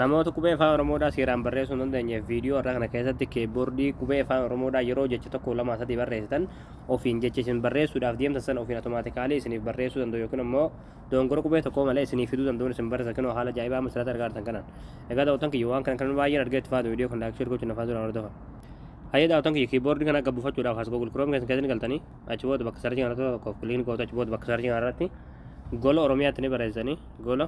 Namoota qubee afaan Oromoodhaa seeraan barreessuu hin dandeenyeef viidiyoo irraa kana keessatti keeboordii qubee afaan Oromoodhaa yeroo jecha tokko lama sadii barreessitan ofiin jecha isin barreessuudhaaf deemtan sana ofiin automaatikaalii isiniif barreessuu danda'u yookiin immoo dongora qubee tokkoo malee isiniif fiduu danda'uun isin barreessa kinoo haala ajaa'ibaa amma sirratti argaa jirtan kanaan. Egaa daawwatan kiyya waan kana kan baay'een argee itti faatu viidiyoo kan laakshee gochuun nafaa dura hordofa. Hayyee daawwatan kiyya kiiboordii kana akka buufachuudhaaf as Google Chrome keessan keessan galtanii achi booda bakka sarjii kana tokko kiliin gootu achi booda bakka sarjii kana irratti gola Oromiyaatti ni barreessanii gola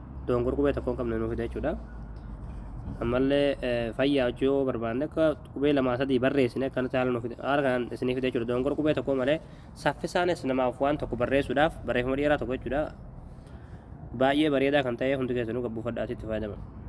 doongor qubee tokkoon qabne nuuf fida jechuudha. Ammallee fayyaa hojii yoo barbaanne akka qubee lamaa sadii barreessine akka nuti haala nuuf fida haala kanaan isiniif fida jechuudha. Doongor qubee tokkoo malee saffisaanis namaaf waan tokko barreessuudhaaf barreeffama dheeraa tokko jechuudha. Baay'ee bareedaa kan ta'e hundi keessanuu gabbuufadhaa asitti fayyadama.